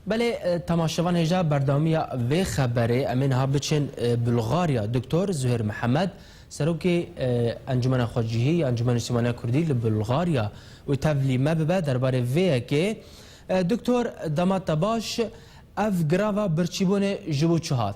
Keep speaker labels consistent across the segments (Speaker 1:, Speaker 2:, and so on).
Speaker 1: Belê temaşevan hêja berdewamiya vê xeberê em ê niha biçin Bulgarya. Doktor Zuhêr Mihemed serokê Encumena Xwecihî ya Encumena Nîştimaniya Kurdî li Bulgarya û tevlî me bibe derbarê vê yekê. Doktor dema te baş ev grava birçîbûnê ji bo çi hat?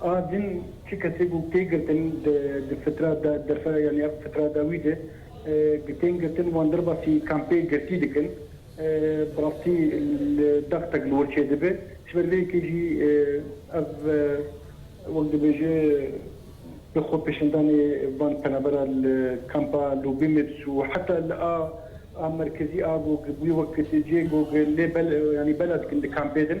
Speaker 2: A din çi kesê bû tê girtin di fitra da derfera yanî ev fitra da wî de bi tên girtin wan derbasî kampê girtî dikin bi rastî li dextek li wir çê dibe ji ber vê yekê jî ev wek dibêje bi xwe pêşandanê van penabera li kampa Lubimits û heta li a a merkezî a gog bûye wek tê cê gog lê bela dikin di kampê din.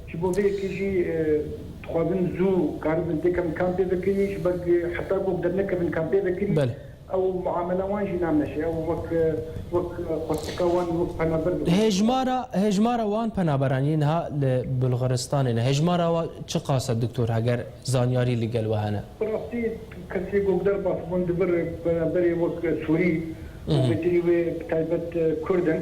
Speaker 2: Ji bo vê yekê jî dixwazin zû karibin têkevin kan pêvekirî ji ber ku heta ku ew dernekevin kan pêvekirî ew muamela wan jî nameşe ew wek wek xwestika wan wek penaber dixwin. Hejmara hejmara
Speaker 1: wan penaberan yên niha li Bulgaristanê ne hejmara wan çi qas e doktor heger zanyarî li gel we hene? Bi rastî
Speaker 2: kesê ku derbas bûn di vir penaberê wek Sûrî û betinî wê bi taybet Kurd in.